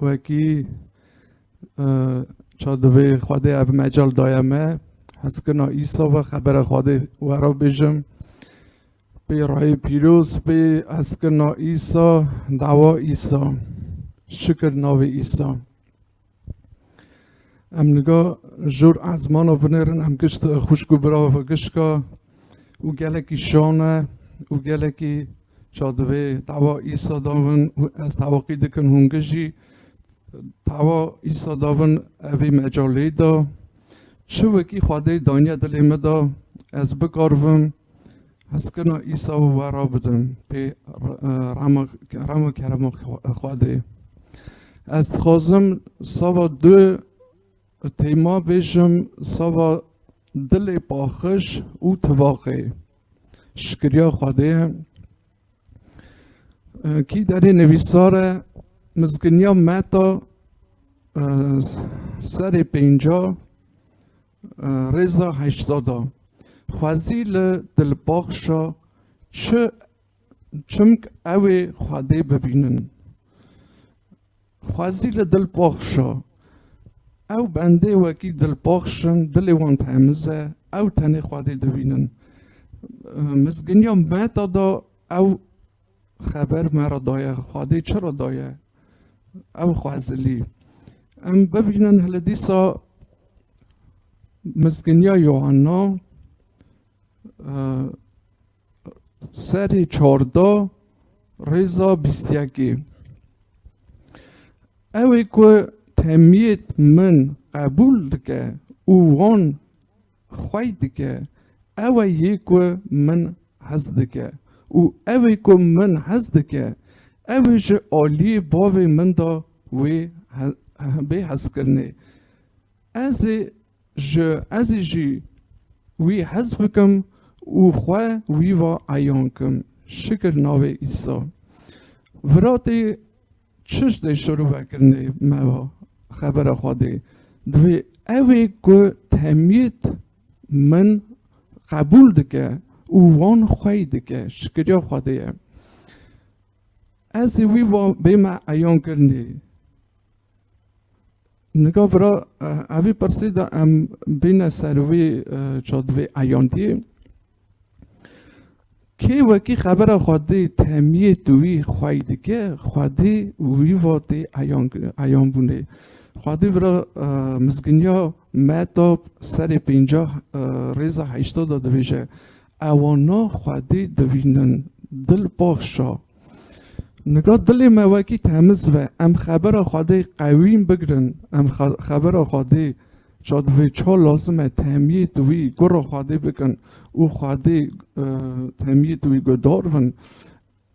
وەکی çadivê Xwedê ev mecal daye me heskirina îsa ve xebera Xwedê we ra bêjim pê rayê pîroz pê heskirina îsa dawa îsa şikir navê îsa em niga jor ezmana binêrin em gişt xuşk û birava gişka û gelekî şan e û gelekî ça divê tawa îsa davin û ez tawaqî dikin hûn gijî tawa îsa davin evî mecalê da çi wekî xwedê daniye dilê me da ez bikarvim heskina îsa û we ra bidim pê rama kerema xwedê ez dixwazim sava du Teyma bêjim sava dilê paxij û tivaqê. Şikiriya Xwedê ye. Kî derê nivîsar e mizginiya meta serê pênca rêza heşta da. Xwezî li dilpaxişa çi çimk ewê Xwedê bibînin. Xwezî li dil poxşa. Ew bendê wekî dilpoxş in, dilê wan temiz e, ew tenê Xwedê dibînin. Mizginiya me da da ew xeber me ra daye, Xwedê çi ra daye? Ew xwezilî. Em bibînin hili dîsa mizginiya Yohanna Serê çarda rêza bîstyekê. Ew ê ku temiyêt min qebûl dike û wan xwey dike, ew e yê ku min hez dike û ew ê ku min hez dike, ew ê ji aliyê bavê min de wê bê hezkirinê. Ez ê Ji ezî jî wî hez bikim û xwe wî va eyan kim. Şikir navê Îsa. Viratê çiş dê şirovekirinê me va xebera xwe dê. Divê evê ku temît min qebûl dike û wan xwey dike şikiriya xwe dê ye. Ezî wî va bê me eyan kirinê. Nika vira evî pirsî de em bîne ser wî çadivê eyandî. Kê wekî xebera xwedî temiyê tu wî xwey dike, xwedî wî vatê eyanbûnê. Xwedî vira mizginiya metap serê pêncah rêza heşta de dibêje Ewana Xwedî dibînin. Dil baxş a. Nika dilê me wekî temiz be. Em xebera Xwedê qewîm bigirin. Em xebera Xwedê ça divê ça lazim e temyêt wî gora Xwedê bikin û Xwedê temyêt wî guhdar bin.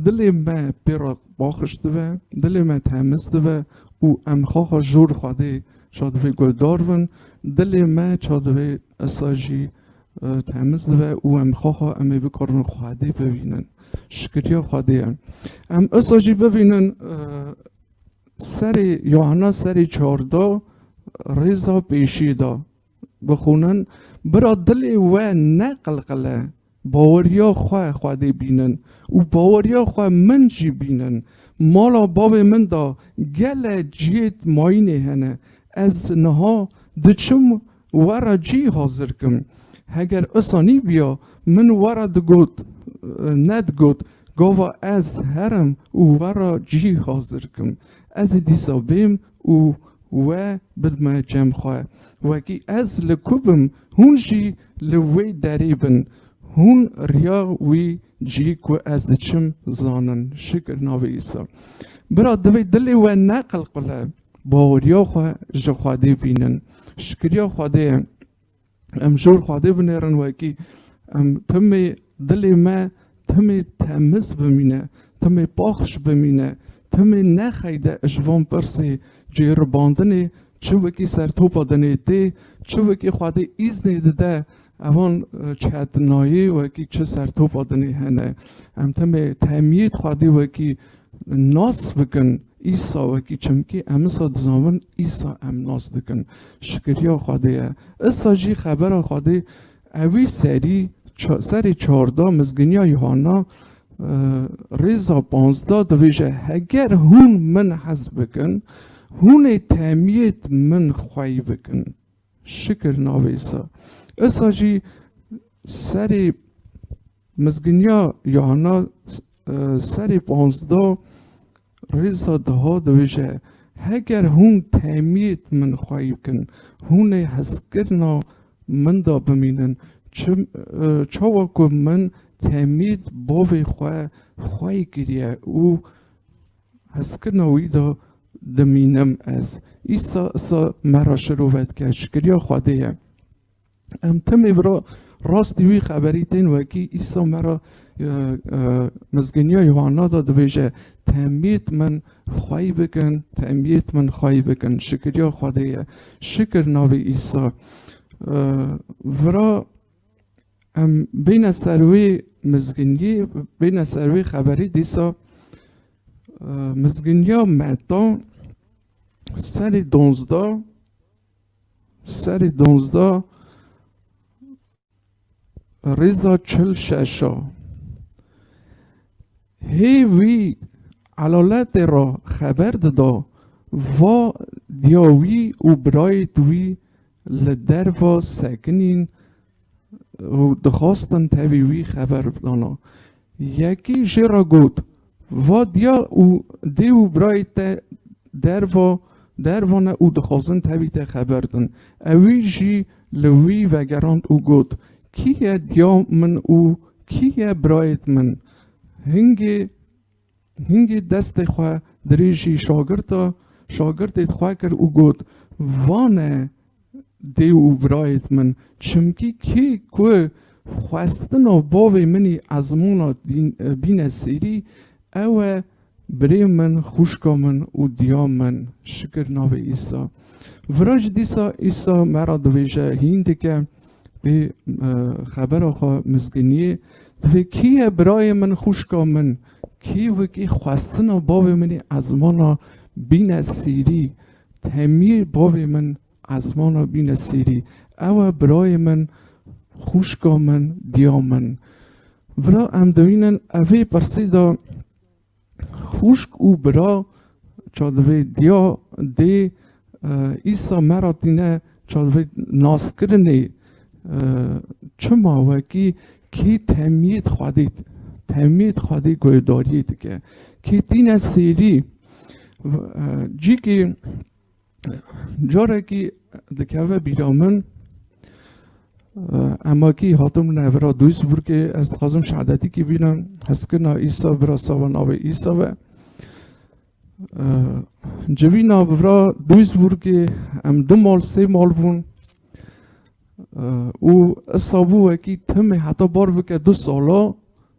Dilê me pê re baxş dibe, dilê me temiz dibe û em xaxa jor Xwedê ça divê guldar bin. Dilê me ça divê esa jî temiz dibe û em xaxa em ê bikarin Xwedê bibînin. Şikiriya Xwedê ye. Em esa jî bibînin serê Yuhana serê çarda rêza pêşî da. bixwînin, bira dilê we neqilqile, baweriya xwe Xwedê bînin û baweriya xwe min jî bînin. Mala bavê min de gele cihêt mayînê hene. Ez niha diçim we re cî hazir kim. Heger wisa nîbiya, min we re digot, nedigot, gava ez herim û we re cî hazir kim. Ez ê dîsa bêm û We bidme cem xwe. Wekî ez li ku bim hûn jî li wê derî bin. Hûn riya wî cî ku ez diçim zanin. Şikir navê Îsa. Bira divê dilê we neqilqile. Baweriya xwe ji Xwedê bînin. Şikiriya Xwedê ye. Em jor xwadê binêrin wekî em timê dilê me timê temiz bimîne, timê paxş bimîne, timê nexeyde ji van pirsê cêribandinê çi wekî sertopa dinê tê, çi wekî xwadê îznê dide evan çetnayê wekî çi sertopa dinê hene. Em timê temîyê xwadê wekî Nas bikin Îsa wekî çimkî emisa dizanvin Îsa em nas dikin. Şikiriya Xwedê ye. Îsa jî xebera Xwedê ewî serî serê çarda mizginiya Yuhanna rêza panzda dibêje heger hûn min hez bikin hûnê temiyêt min xwey bikin. Şikir navêsa. Issa jî serê mizginiya Yuhanna serê panzda rêza diha diwije Heger hûn temîyêt min xweyî bikin, hûnê hezkirina min da bimînin, çawa ku min temîyêt bavê xwe xweyî kiriye û Hezkirina wî de dimînim ez. Îsa îsa me re şirove dike, şikiriya Xwedê ye. Em timî bi rastî wî xeberî tên wekî Îsa me re Mizgîniya Yuhanna de dibêje, Temît min xweyî bikin, temît min xweyî bikin. Şikiriya Xwedê ye. Şikir navê Îsa. Vira Em bîne ser wî mizgînî, bîne ser wî xeberî dîsa mizgîniya meta serî donzda serî donzda rêza çil şeşa hê wî elaletê ra xeber dida va diya wî û birayê wî li derva sekinîn û dixwastin tevî wî xeber bidana. Yekî jê re got, Va diya û dê û birayê te derva derva ne û dixwazin tevî te xeber din. Ewî jî li wî vegerand û got, Kî ye diya min û kî ye birayê min? Hingê Hingî destê xwe dirêjî şagirda, şagirdê xwe kir û got, Vane dê û birayêt min, çimkî kê ku xwestina bavê min î ezmûna bîne sêrî, ew e birê min, xûşka min û diya min. Şikir navê Îsa. Viraj dîsa Îsa me ra dibêje, Hîndike, Wê xebera xwe mizginiyê divê kî ye birayê min xwişka min kî wekî xwestina bavê min ê ezmana bîne sîrî temiyê bavê min ezmana bîne sîrî ew e birayê min xwişka min diya min vira em dewînin evê pirsî de Xûşk û bira çadivê diya dê îsa me ra tîne çadivê naskirinê çima wekî kî temîyê dixwedît temîyê dixwedî guhdarîyê dike kî tîne sêrî cîkî Carekî dikeve bîra min emakî hatim ne vira Duisburgê ez dixwazim şehadetîkî bînim heskirina îsa vira sava navê îsa ve civîna vira Duisburgê em du mal sê mal bûn û isabû wekî timê heta bar bike du sala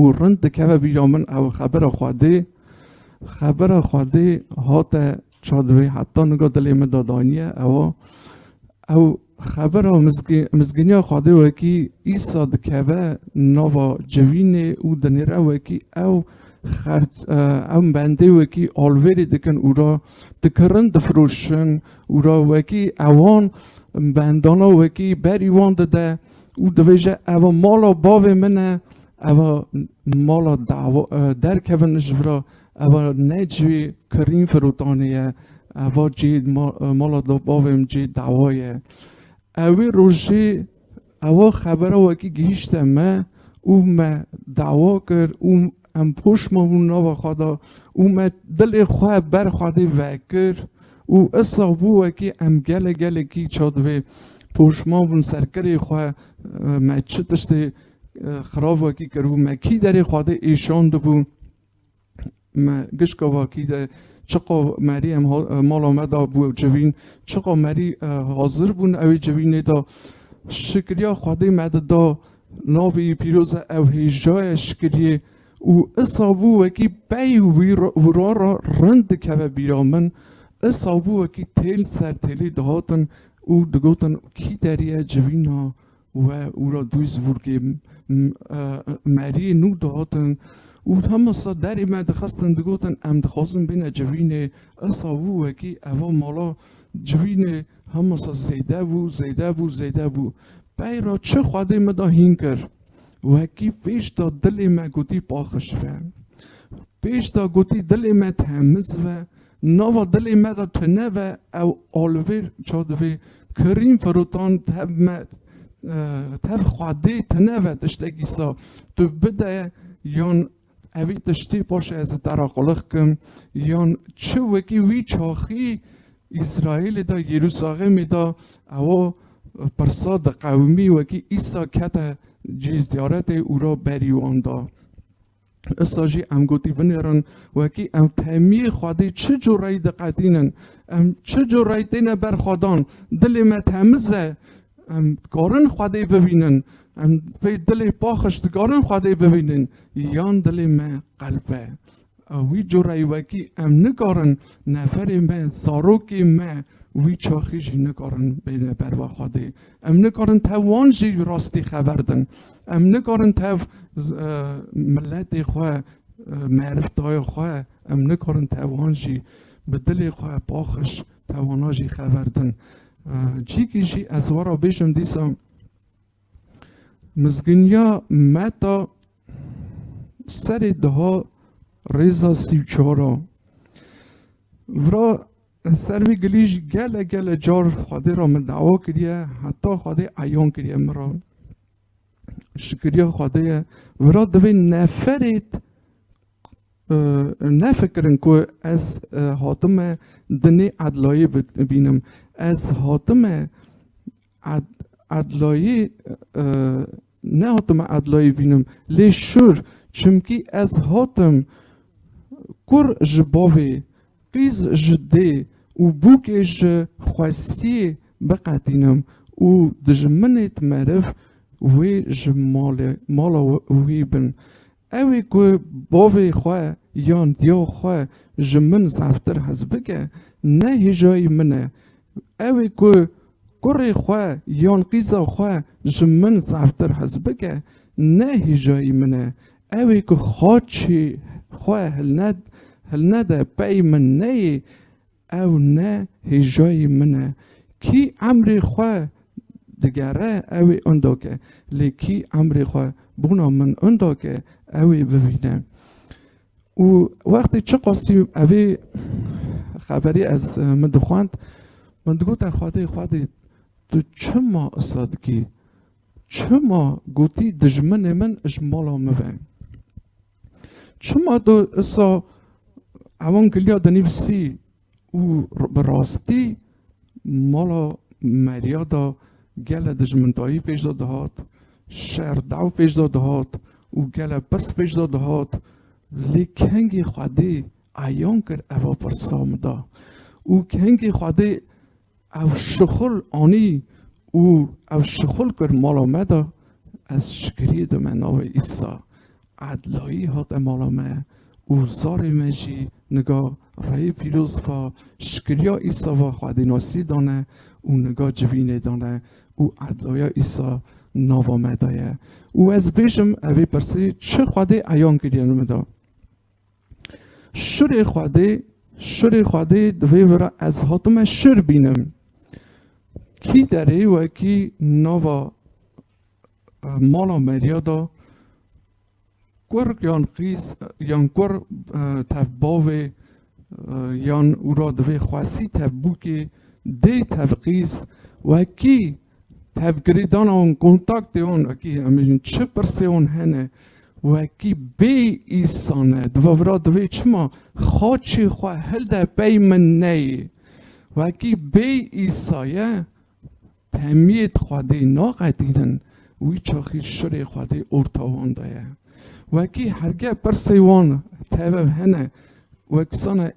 û rind dikeve bîra min ew xebera Xwedê xebera Xwedê hate çadivê heta niga dilê min de daniye ewa ew xebera mizgîniya Xwedê wekî îsa dikeve nava civînê û dinêre wekî ew xert ew bendê wekî alvêrê dikin û ra dikirin difiroşin û ra wekî ewan bendana wekî berî wan dide û dibêje ev mala bavê min e ev mala dawa derkevin ji vir a ev ne cihê kirîn firotanê ye ev cihê mala bavê min cihê dawa ye ew wê rojê ew xebera wekî gihîşte me û me dawa kir û Em poş mabûn nava xwe de û me dilê xwe ber Xwedê vekir û isra bû wekî em gelek gelekî ça divê poş mabûn ser kirê xwe me çi tiştê xirab wekî kiribû me kî derê Xwedê êşandibû me gişka vakî de çiqa merî em mala me da bû civîn çiqa merî hazir bûn ew ê civînê da şikriya Xwedê me di da Navê yê pîroz e ew hêja ye şikiriyê û isavû wekî pey û wira re rind dikeve bîra min, isavû wekî têl ser têlê dihatin û digotin kî deriye civîna we û ra dûyî zivurgê meriyê nû dihatin û hema sa derê me dixestin digotin em dixwazin bêne civînê, isavû wekî eva mala civînê Hamasa zêde bû, zêde bû, zêde bû. Pey ra çi Xwedê min da hîn kir. Wekî pêş da dilê me gotî paxij be. Pêş da gotî dilê me temiz be. Nava dilê me da tune be ew alivê ça divê kirîn firotan tev me tev Xwedê tune be tiştekî sa tu bide yan Evî tiştî paşê ez ê te re qulix bikim, yan çi wekî wî çaxî Îsraîlê de Yerûsalemê de ewa pirsa di qewimî wekî Îsa kete cî ziyaretê û ra berî wan da. Îsa jî em gotî binêrin wekî em temî Xwedê çi cureyî diqetînin, em çi cureyî têne ber xwedan, dilê me temiz e, Em dikarin Xwedê bibînin. Em pê dilê paxij dikarin Xwedê bibînin. Yan dilê me qelp e. A wî coreyê wekî em nikarin neferê me, zarokê me wî çaxî jî nikarin bêne berva Xwedê. Em nikarin tev wan jî rastî xeber din. Em nikarin tev miletê xwe, meriftaya xwe, em nikarin tev wan jî bi dilê xwe paxij tev wana jî xeber din. Çîkî jî ez wara bêjim dîsa mizginiya meta serê daha rêza sî û çara vira ser vê gilî jî gele gele car xwedê ra min dawa kiriye heta xwedê eyan kiriye min ra şikiriya xwedê ye vira divê neferêt Nefikirin ku ez hatime dinê edlayê bînim. Ez hatime edlayê nehatime edlayê bînim lê şûr. Çimkî ez hatim kur ji bavê, qîz ji dê û bûkê ji xwestiyê biqetînim û dijminêt meriv wê ji malê mala wî bin. Ewî ku bavê xwe yan diya xwe ji min zeftir hez bike, ne hêjayî min e. Ewî ku kurê xwe yan qîza xwe ji min zeftir hez bike, ne hêjayî min e. Ewî ku xaçê xwe hilnede pey min neyê, Ew ne hêjayî min e. Kî emrê xwe digere ew ê onda ke, lê kî emrê xwe bona min onda ke ew ê bivîne. Û wextê çiqasî evê xeberê ez min dixwend, min digote Xwedê, Xwedê tu çima isa dikî? Çima gotî dijminê min ji mala min ve? Çima do esa ewan giliya dinivîsî û bi rastî mala Merya da gele dijmindayî fêş da dihat, şer dew fêş da dihat û gele pirs fêş da dihat lê kengî Xwedê eyan kir eva pirsa min da û kengî Xwedê Ew şixul anî û ew şixul kir mala me de. Ez şikirî dime navê Îsa. Edlayî hate mala me û zarê me jî niga reyê pîroz va şikiriya Îsa va Xwedînasî dane û niga civînê dane û edlaya Îsa nava me de ye. Û ez bêjim evê pirsî çi Xwedê eyan kiriye li min de. Şirê Xwedê, Şirê Xwedê divê were ez hatime şir bînim. Kî derê wekî nava mala Merya da kur yan qîz yan kur tev bavê yan ûra divê xwesî tev bûkê dê tev qîz wekî Tevgirîdana wan, kontaktê wan wekî em bêjin çi pirsê wan hene wekî bê îsan e. Di va vira divê çima xaçê xwe hilde pey min neyê. Wekî bê îsa ye temiyê di Xwedê naqetînin wî çaxî şirê Xwedê orta wan de ye. Wekî hergeh pirsê wan teve hene wekî sane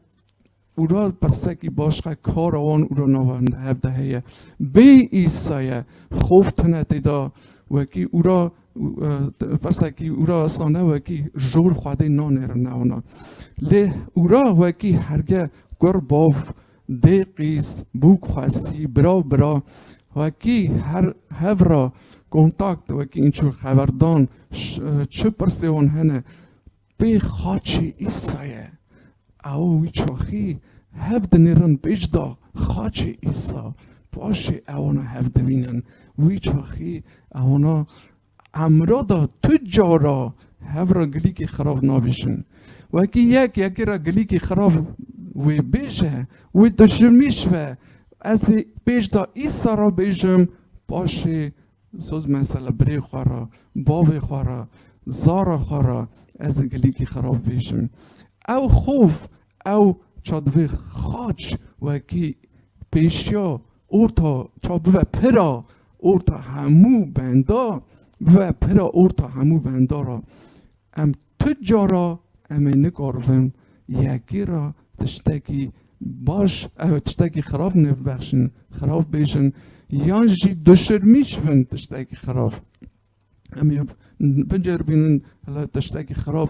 Û ra persekî baş xe kara wan û ra nava hinde hev de heye. Bê Îsaye xof tune têda wekî û ra persekî û ra sane wekî jor xwedê nanêrin newana. Lê û ra wekî herge kur bav dê qîz bûk xwesî birav bira wekî her hev ra kontakt wekî înçû xeverdan çi pirsê wan hene Vê xaçê Îsa ye. Ew wî çaxî hev dinêrin pêç da xaçê Îsa. Paşê ewana hev divînin. Wî çaxî ewana emra da tu cara hev ra gilîkî xirab navêjin. Wekî yek yekê ra gilîkî xirab wê bêje, wê tu ji min şive. Ez ê pêç da Îsa ra bêjim, paşê Soz mesela birê xwe re, bavê xwe re, zara xwe re ez ê gelekî xerab bêjim. Ew xof, ew ça divê xaç wekî pêşiya orta ça bibe pira orta hemû benda, bibe pira orta hemû benda re. Em tu cara em ê nikaribin yekê re tiştekî baş ew tiştekî xirab nêbibexşin, xirab bêjin yan jî duşirmîç bin tiştekî xirab. Em ê biceribînin hela tiştekî xirab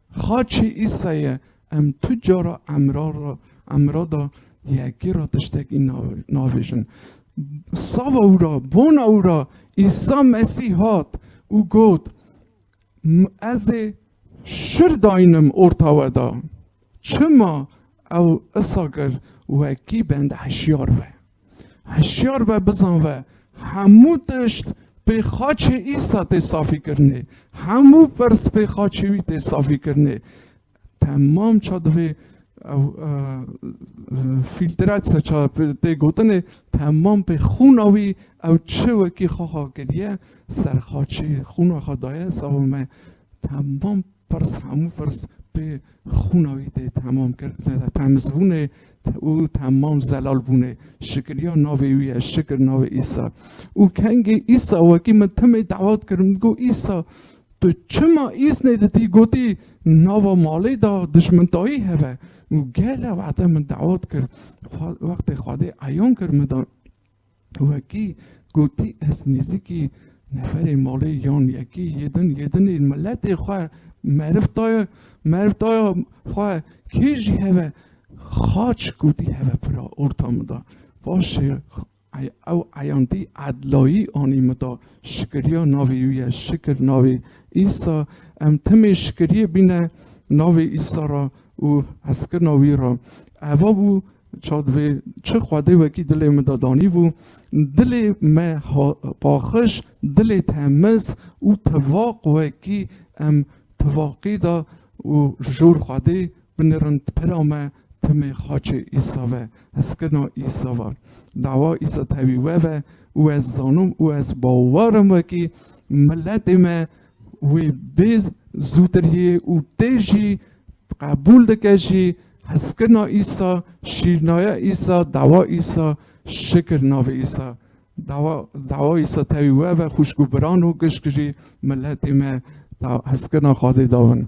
Xaçê Îsa ye, em tu cara emra ra, emra da yekê ra tiştekî na, nabêjin. Sava wî ra, bona wî ra Îsa Mesîh hat û got, Ez ê şir dayînim orta we da. Çima ew isa kir? Wekî bende hişyar be. Hişyar be bizan ve hemû tişt pê xaçê Îsa tê safîkirinê. Hemû pirs pê xaçê wî tê safîkirinê. Temam ça divê ew fîltratsa ça tê gotinê temam pê xûna wî ew çi wekî xwe xwe kiriye ser xaçê xûna xwe daye sava me temam Ferz hemû ferz pê xûna wî tê temam kir temizbûnê û temam zelal bûnê şikiriya navê wî ye şikir navê îsa û kengê îsa wekî min timê dawat kir min got îsa tu çima îznê ditî gotî nava malê da dijmintayî heve û gele wexte min dawat kir wextê xwedê eyan kir min da Wekî gotî ez nêzîkî neferê malê yan yekî yêdin yêdinê miletê xwe meriv daye meriv daye xwe kê jî heve xaç gotî heve pira orta min da vaşê ew eyandî edlayî anî min da şikiriya navê wî ye şikir navê îsa em timê şikiriyê bîne navê îsa ra û hezkirina wî ra eva bû Çav divê çi xwedê wekî dilê min de danîbû, dilê me paxij, dilê temiz û tevaq wekî em tevaqî de û ji jor xwedê binirin pira me timê xaçê Îsa ve, hezkirina Îsa ve. Dawa Îsa tevî we ve û ez zanim û ez bawer im wekî miletê me wê bê zûtir yê û tê jî qebûl dike jî, Heskirina Îsa, şîrnaya Îsa, dawa Îsa, şikir navê Îsa. Dawa dawa Îsa tevî we ve xwişk û biran û gişk jî miletê me ta heskirina Xwedê davin.